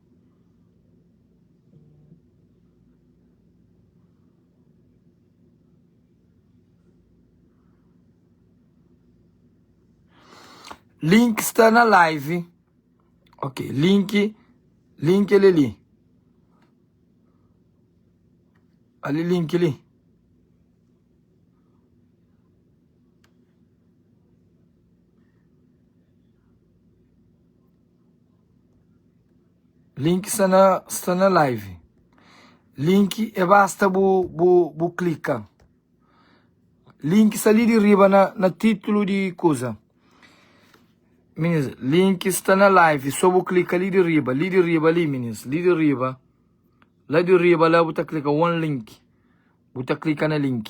Link sta na live ok link link el li ali link li. Link sta na sta na live link é basta bu bu bu klika link sta li di riba na na titulu di kuza minist link sta na live so bu klika li di riba li di riba li minist li di riba la di riba la bu ta klika one link bu ta klika na link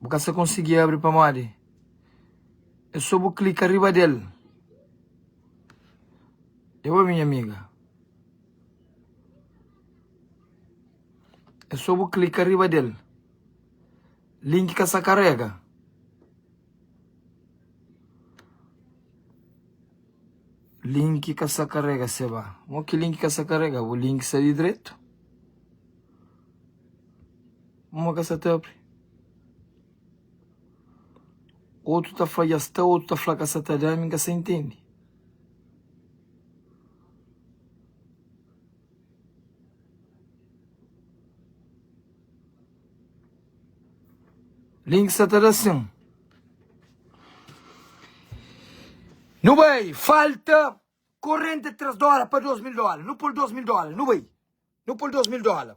Bu ka sa konsigi abri pamodi é so bu klika riba del. E bo minha amiga. É so bu klika riba del. Link ka sa karega. Link ka sa karega seba. Mo ki link ka sa karega? Bu link sa di dretu. Uma ka sa ta apri. Otu ta fla dja sta, otu ta fla ka sa ta da, mi ka sa intendi. Link sa ta da sin. Nu bai, falta korenti tres dola pa dos mil dola. Nu pul dos mil dola, nu bai. Nu pul dos mil dola.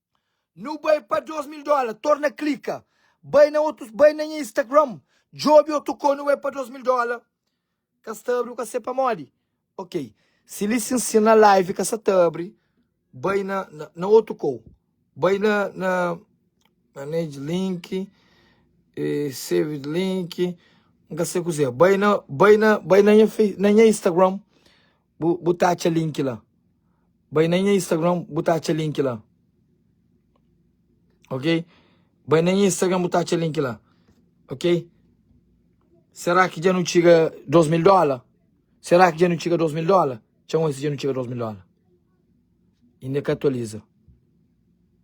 Nu bai pa 2 mil dola torna klika bai na otus bai na nha instagram djobe otu ko nu bai pa 2 mil dola ka sta abri ka sê pamodi ok si li si nsina live ka sa ta abri bai na na otu ko bai na na manage link save link nka sê kuzê bai na bai na bai na nha face na nha instagram Bu bu ta atxa link la. Bai na nha Instagram, bu ta atxa link la. Ok? Bai na nha Instagram, bu ta atxa link la. Ok? Sera ki dja nu txiga 2000 dola? Sera ki dja nu txiga 2000 dola? Txeu antis dja nu txiga 2000 dola. Inda ka atualiza.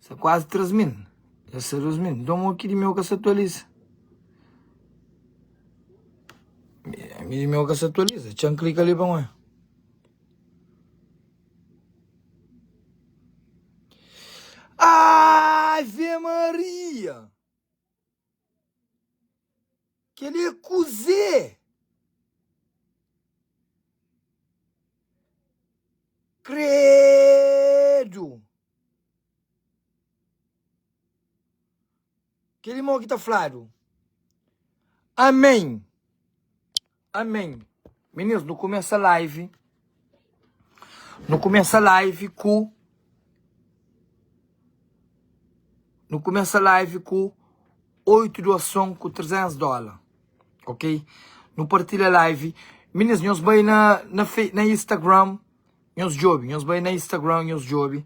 Sa kuazi 3 mil, dja sa 2 mil, nton o ki di meu ka sa atualiza? Mi di meu ka sa atualiza, txeu n klika li pa nau e. Ave Maria! Kel li é kuzê? Kreeeedu! Kel li mô ki ta fladu. Amém. Amém Meninas nu kumesa live Nu kumesa live ku Nu kumesa live ku 8 doason ku 300 dóla Ok Nu partilha live Meninas nhos bai na na Instagram Nhos djobe, nhos bai na Instagram, nhos djobe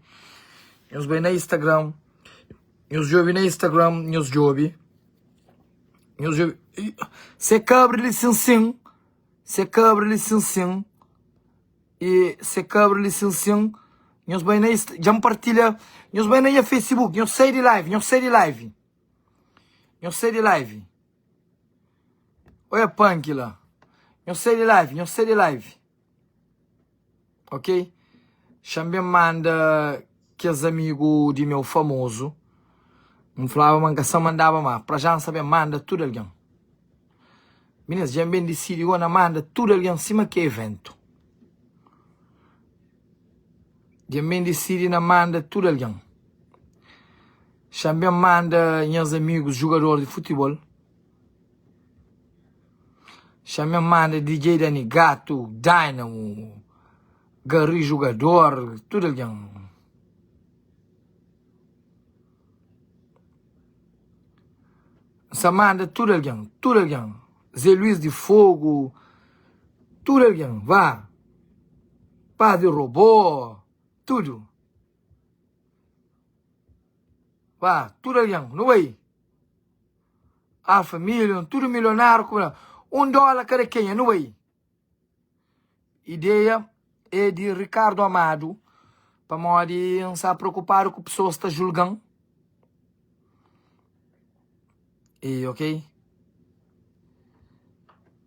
Nhos bai na Instagram Nhos djobe na Instagram, nhos djobe Nhos djobe Ih, se kabra li sin sin Se kabra li sin sin Ih, se kabra li sin sin Nhos bai na Insta, dja-m partilha Nhos bai na nha Facebook, nhos sai di live, nhos sai di live Nhos sai di live Oia punk la Nhos sai di live, nhos sai di live Ok? Xanben manda kes amigu di meu famozu. N flaba ma N ka sa mandaba ma pra ja N sa ben manda tudu algen. Minis dja N ben disidi gó na manda tudu algen sima ki eventu. Dja N ben disidi na manda tudu algen. Xanben manda nhas amigus jugador di futibol. Xamé manda DJ Dani Gato, Dynamo, Garry Jugador, tudo alguém. Sa manda tudo alguém, tudo alguém. Zé Luiz de Fogo, tudo alguém, vá. Padre Robô, tudo. Vá, tudo alguém, não vai. Ah família un tudo milionário ku un dólar kada quem anyway ideia é de Ricardo Amado pamodi un sa preocupado ku pessoas ta julgan e ok.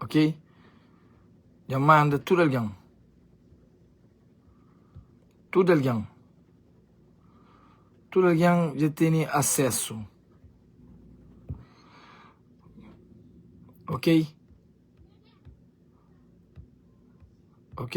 Ok? Dja manda tudu algen. Tudu algen. Tudu algen dja tene asesu. Ok? Ok?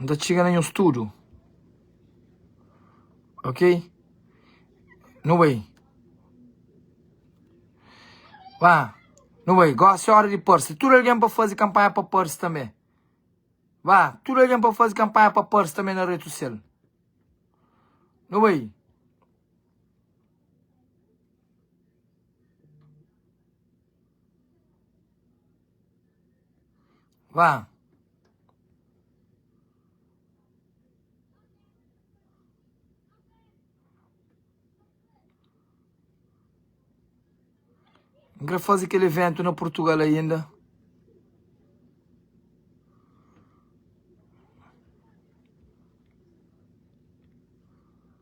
N ta txiga na nhos tudu Ok No way Ba No way Gósi é óra di parse Tudu algen pa faze kanpanha pa parse tanbê Ba Tudu algen pa faze kanpanha pa parse tanbê na rede sosial No way Vá. N kre faze kel eventu na Portugal ainda.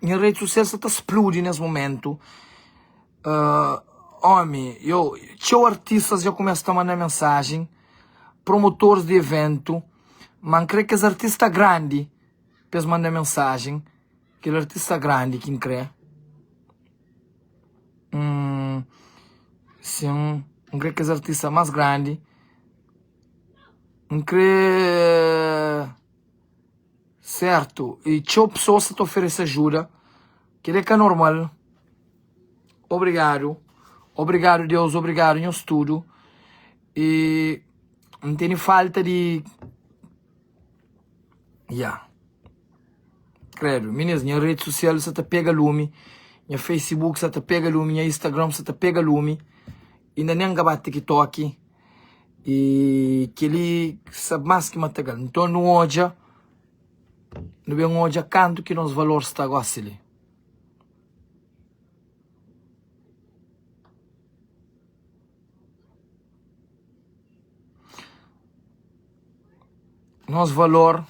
Nha rede social sa ta spludi nes momentu uh, omi yo txeu artistas já começa ta manda mensagem promotores de evento man crê que es artista grande pes manda mensagem aquele artista grande que crê hum, sim um crê que es artista mais grande um crê Sertu e txeu pessoas sta ta oferece ajuda kel é ka normal obrigadu obrigadu Deus obrigadu nhos tudu e N tene falta di ya credo minês nha rede social sta ta pega lumi nha Facebook sta ta pega lumi nha Instagram sta ta pega lumi inda nem ka ba TikTok E kel-li sabe más ki matagal. Nton, nu odja, nu ben odja kantu ki nos valor sta gósi li. Nos valor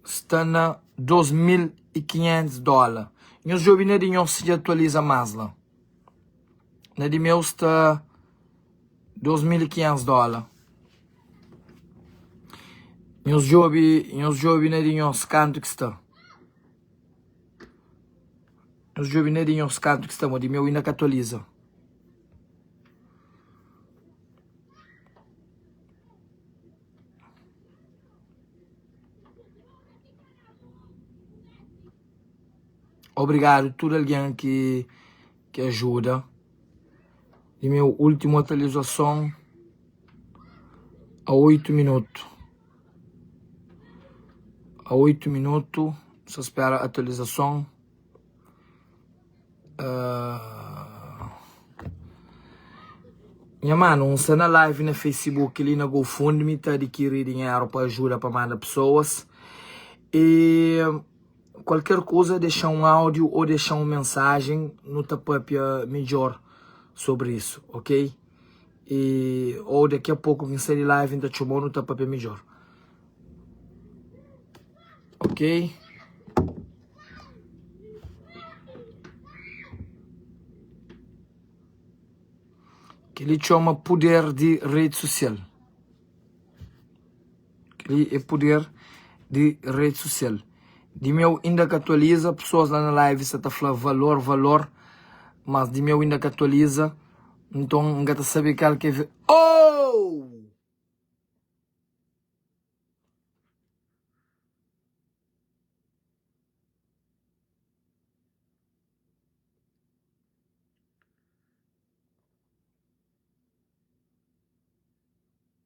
sta na dôs mil i kinhentus dóla. Nhos djobe na di nhos dja atualiza más la. Na di meu sta 2500 dóla Nhos djobe, nhos djobe na di nhos kantu ki sta Nhos djobe na di nhos kantu ki sta Mo di meu inda ka atualiza Obrigadu tudu algen ki ki ajuda di meu últimu atualizason a 8 minutu a 8 minutu sa spera atualizason uh, nha manu un sta na live na facebook li na gofundme ta adikiri dinheru pa ajuda pa manda pesoas e Kualker kuza dexa un audio o dexa un mensajen nu ta papia midjor sobri isu ok e o daki a poku kin sai di live nta txomau nu ta papia midjor ok. Keli txoma puder di redi sosial. Kel-li é puder di redi sosial. Di meu inda ka atualiza, pesoas la na live sa ta fla valor, valor, mas di meu inda ka atualiza, nton N ka ta sabe kal ki é ve. Ooh!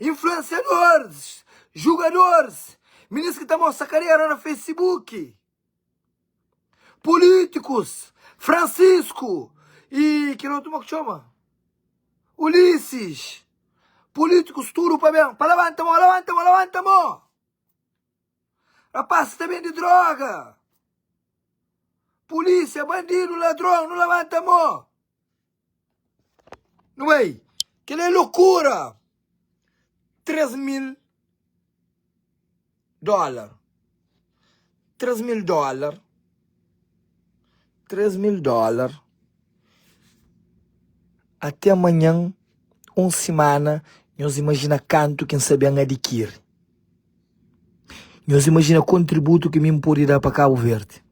Influensiadores, jugadores, minis ki ta mostra karera na Facebook, políticos, Francisco e kel outro como é que chama? Ulisses, políticos tudo pa bem, pa levanta mão, levanta mão, levanta mão! Rapaz que ta vende droga, polícia, bandido, ladrão, não levanta mão! No bai, kela é lokura! 3 mil dólar, 3 mil dólar, 3 mil dólar, até amanhan, un simana, nhos imajina kantu, ken sabe, N adikiri. Nhos imajina kontributu ki mi N pode da pa Kabu Verdi.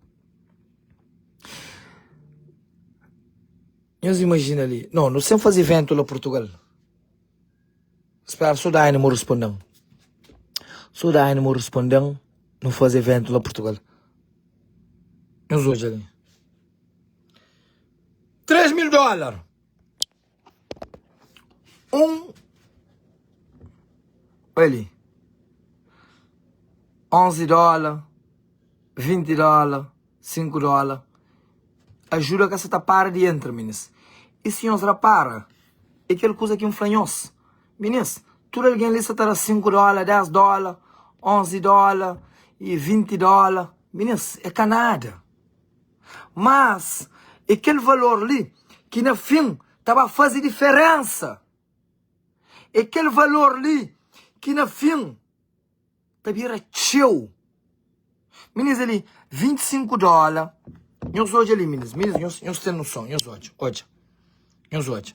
Nhos imajina li, no, no sem faze ventu la Portugal. Spera, so da animu respondem. So da animu respondem, no faze ventu la Portugal. Nhos odja li. Tres mil dolar! un oi li 11 dola 20 dola 5 dola ajuda ka sa ta para di entra minis y si nhos rapara e kel kuza ki N fla nhos minis tudu algen li sa ta da 5 dola 10 dola 11 dola y 20 dola minis e ka nada. Mas é kel valor li ki na fin ta ba faze diferénsa. É kel valor li ki na fin ta bira txeu. Minus ali, 25 dóla. Nhos odja li, minus. Minus, nhos ten noson. Nhos odja, odja. Nhos odja.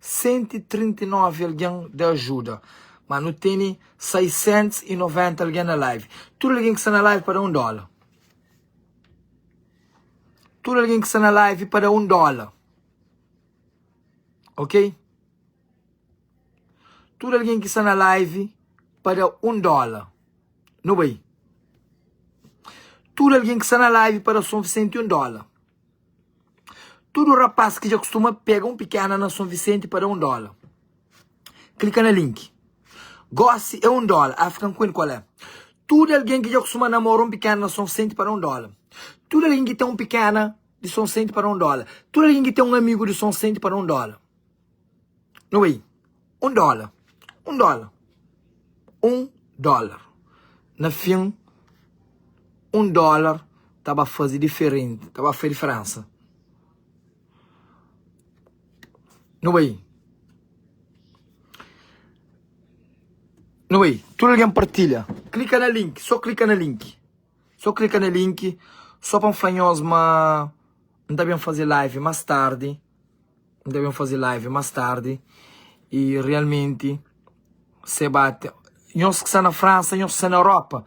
139 algen da ajuda ma nu teni 690 algen na live tudu algen ki sta na live pa da un dóla tudu algen ki sta na live pa da un dóla ok tudu algen ki sta na live pa da un dóla nu bai tudu algen ki sta na live pa da son 101 dóla Tudu rapaz ki dja kustuma pega un pikéna na Son Visenti pa da un dóla, klika na link. Gósi é un dóla, African Queen kual é? Tudu algen ki dja kustuma namora un pikéna na Son Visenti pa da un dóla. Tudu algen ki ten un pikéna di Son Visenti pa da un dóla. Tudu algen ki ten un amigu di Son Visenti pa da un dóla. No way Un dóla Un dóla Un dóla Na fin Un dóla ta ba faze diferenti Ta ba faze diferensa No way No way Tudu algen partilha Klika na link Sô klika na link Sô klika na link Sô pa N fla nhos ma N ta ben faze live más tardi. N ta ben faze live más tardi i realmenti se bate nhos ki sta na Fransa, nhos ki sta na Europa.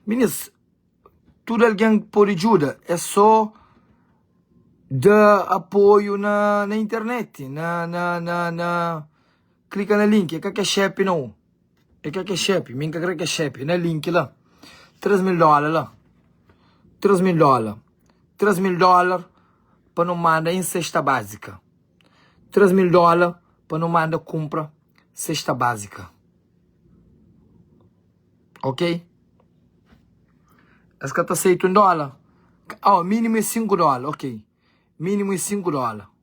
Minis, tudu algen pode djuda, é sô da apoiu na internet, na. Klika na link, e ka ke xepe nao E ka ke xepe, mi ka kre ke xepe Na link la, tres mil dola la Tres mil dola Tres mil dola pa no manda en sesta bazika Tres mil dola pa no manda kumpra sesta bazika Ok Es ka ta seita un dola Awa minimu e sinku dola Ok minimu e sinku dola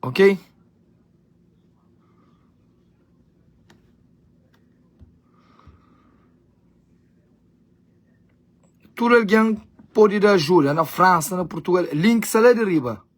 ok tudu algen pode da ajuda na fransa na portugal link sta la di riba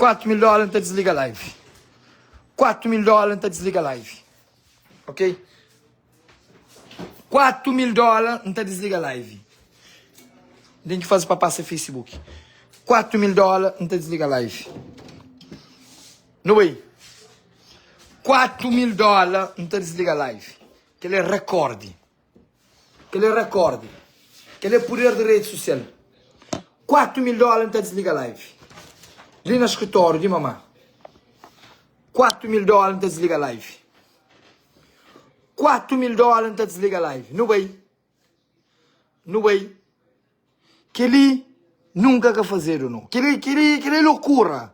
4 mil dóla n ta disliga live 4 mil dóla n ta disliga live ok 4 mil dóla n ta disliga live n ten ki faze pa pasa facebook 4 mil dóla n ta disliga live no bai 4 mil dóla n ta disliga live kel é rekorde Kel é rekorde. Kel é puder di rede sosial. 4 mil dola n ta disliga live. Li na skritóriu di mama. 4 mil dola n ta disliga live. 4 mil dola n ta disliga live. Nu bai. Nu bai. Kel li nunka ka fazedu no. Kel li, kel li, kel li é lokura.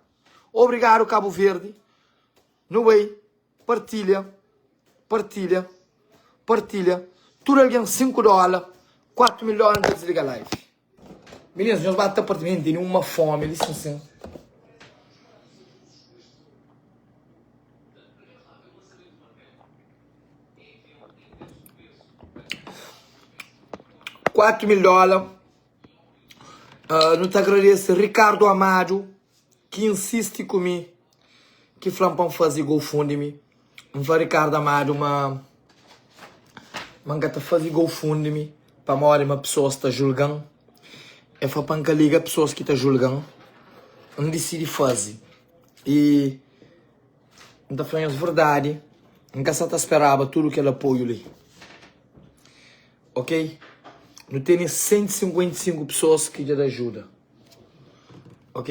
Obrigadu Kabu Verdi. Nu bai. Partilha Partilha Partilha Tudu algen 5 dóla 4 mil dóla N ta disliga live Minins nhos ba ta parti Minins tene uma fome li sin sin Quatro mil dólar uh, Nu ta agradece Ricardo Amado Que insiste comigo ki fla-m pa N faze GoFundMe N fla Ricardo Amado ma Ma N ka ta faze GoFundMe Pamodi ma pesoas ta julga-m E fla pa N ka liga pesoas ki ta julga-m N disidi faze i N ta fla-nhos verdadi N ka sa ta speraba tudu kel apoiu li Ok Nu tene 155 pesoas ki dja ta ajuda Ok.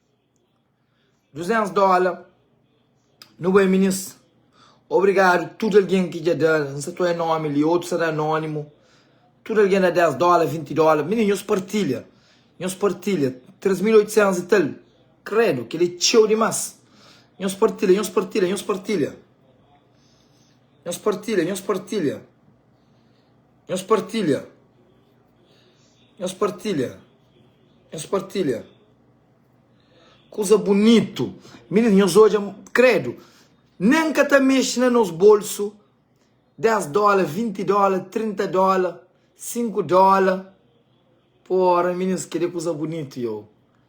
200 dóla nu bai minis obrigadu tudu algen ki dja da n sa toi nómi li otus sa da anónimu tudu algen da 10 dóla 20 dóla minis nhos partilha nhos partilha 3800 i tal kredu kel-li é txeu dimás nhos partilha nhos partilha nhos partilha nhos partilha nhos partilha. Nhos partilha. Nhos partilha. Nhos partilha. Kuza bunitu. Minit nhos odja, kredu, nen ka ta mexe na nos bolsu, 10 dóla, 20 dóla, 30 dóla, 5 dóla pa óra. Minit, kel-li é kuza bunitu, yo.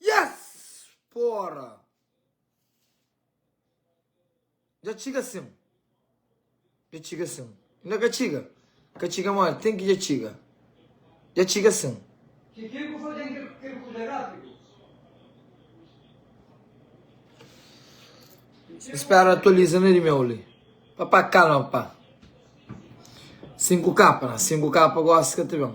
Yes! Pora! Dja txiga sin. Dja txiga sin. Inda ka txiga? Ka txiga ma ten ki dja txiga. Dja txiga sin. Ki ki bu faze di kel kuza rápidu? N spera atualiza na di meu li. Papa kalma pá. Sinku kapa na. Sinku kapa gosi ka ta ben.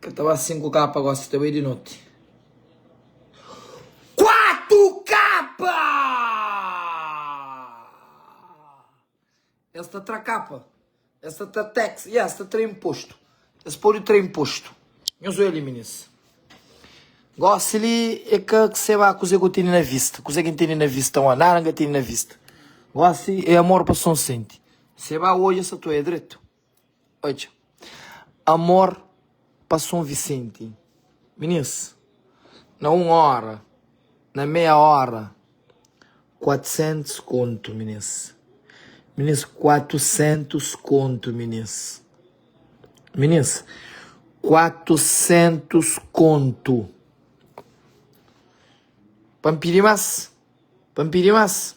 Ka ta ba sinku kapa gosi ta bai di noti. Kuatu kapa! Es ta tra kapa, es ta tra tax, ya es ta tra impostu. Es podi tra impostu. Nhos oja li minis. Gosi li e ka seba kuze ku tene na vista. Kuze ki N tene na vista wan? Nada N ka tene na vista. Gosi e amor pa son senti. Seba oja sa ta oja dretu. Odja Amor pa Son Visenti Minis Na un óra Na meia óra Kuatesentus kontu minis Minis Kuatesentus kontu minis Minis Kuatesentus kontu Pa N pidi más Pa N pidi más.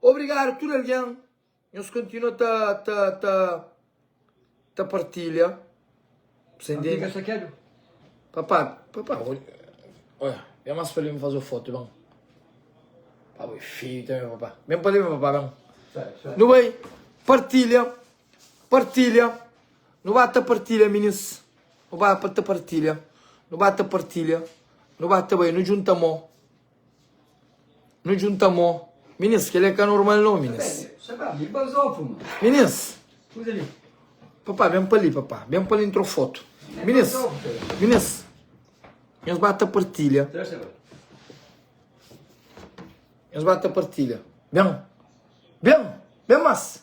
Obrigado tudo alguém nos continua ta ta ta ta partilha você entende papá papá olha é mais feliz fazer foto bom papá feio também papá bem para mim papá bem não vai partilha partilha não bata partilha meninos não bata partilha não bata partilha não bata bem não junta mão Nu djunta mô Minis, kel-li é ka normal nau, Minis Minis, Papá, ben pa li, papá Ben pa li, n tra un fotu Minis, Minis, nhos ba ta partilha Nhos ba ta partilha Ben, Ben, ben más!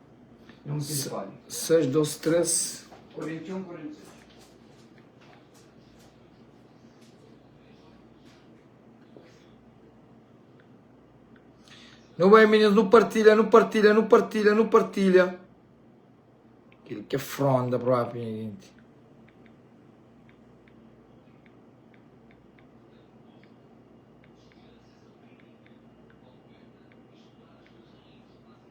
Nu bai meninas, nu partilha, nu partilha, nu partilha, nu partilha. Ele quer fronda própria, gente.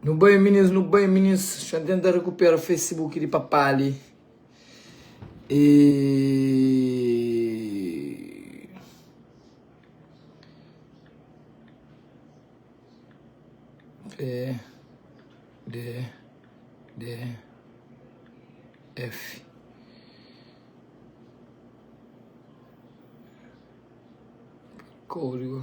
Nu bai minis, nu bai minis, xa N tenta rekupera facebook di papá li e pdf kódigo.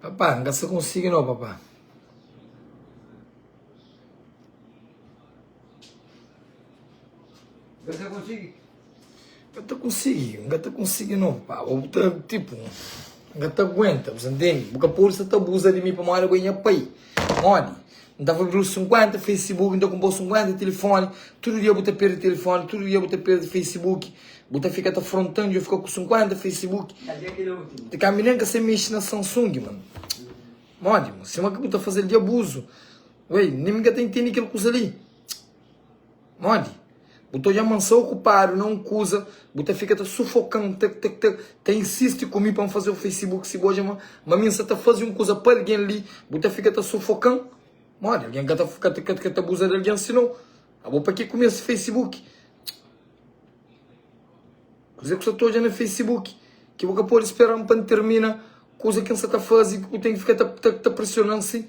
Papá, nka sa konsigi no papá. Nka sa konsigi? Nka ta konsigi, nka ta konsigi no papá. Bo bu ta tipu, nka ta aguenta, bu sa ntende? Bu ka pode sa ta abuza di mi pamodi bo é nha pai, modi? N ta fla-l, Bruno, 50 Facebook, N ta kunpra-u 50 tilifoni, tudu dia bu ta perde tilifoni, tudu dia bu ta perde Facebook, bu ta fika ta fronta-m, dja fika ku 50 Facebook. Ti ka mi nen ka sai mexe na Samsung, mano. Modi, mano? Sima ki bu ta faze-l di abuzu. Uei, nen mi ka ta intendi kel kuza li. Modi? Bu ta odja-m ma N sta okupadu na un kuza, bu ta fika ta sufoka-m, ta ta ta ta insisti ku mi pa N faze un Facebook. Si bu odja ma ma mi N sta ta faze un kuza pa algen li, bu ta fika ta sufoka-m. Modi? Algen ka ta ka ta ka ta abuza di algen si no. Abo pa ki ku mi es Facebook? Kuzê ku sta ta odja na Facebook ki bu ka pode spera-m pa N tirmina kuza ki N sta ta faze? Ki bu ten ki fika ta ta ta presiona-m si?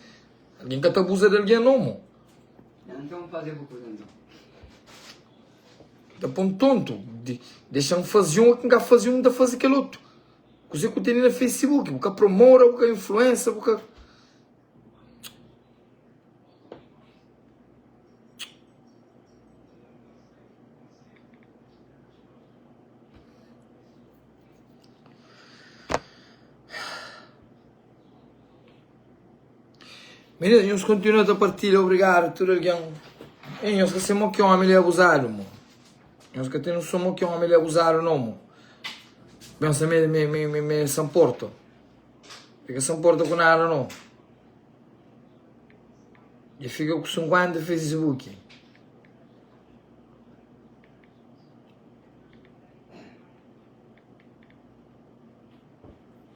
Algen ka ta abuza di algen no, mo. Ta pô-m tontu, dexa-m faze un, ki N ka faze un, N ta faze kel otu. Kuzê ki bu tene na facebook, bu ka promora, bu ka influensa, bu ka. Meninas, nhos kontinua ta partilha, obrigado tudo alguém. Ei, nhos ka sei mo ki homem li abusado mo. Nhos ka tem noção mo ki homem li abusado não mo. Pensa me me me me me se importa. Fica se importa com nada não. E fica com 50 Facebook.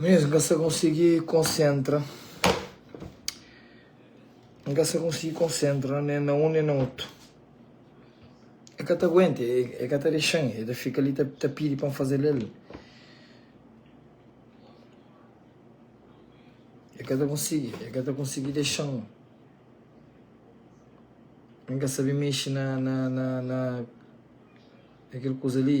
Mesmo que você conseguir concentra. Não você conseguir concentra nem na um nem na outro. É que até aguenta, é, é que até deixa, é fica ali, tá, tá pedindo para fazer ele. El ka ta konsigi, el ka ta konsigi dexa-m N ka sabe mexe na, na, na, na na kel kuza li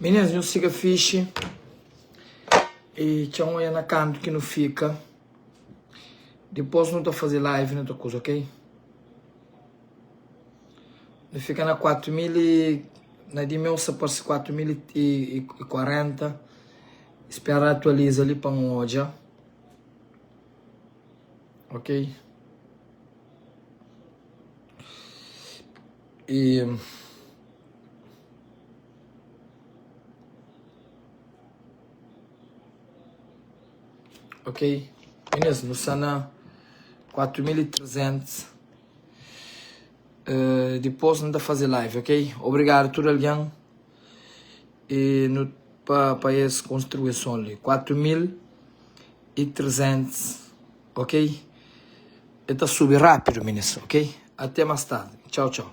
Minis nu siga fixi e txeu nhu odja na kantu ki nu fika dipos nu ta faze live na otu kuza ok nu fika na kuatu mil i na di meu sa parse kuatu mil i kuarenta spera atualiza li pa nu odja ok. Ok, é mesmo, nu sta na 4300 Dipôs nu ta faze live, ok? Obrigadu tudu algen. e no pa pa es konstrui e son li 4300 ok e ta subi rapidu ministra ok até mas tardi tchau tchau.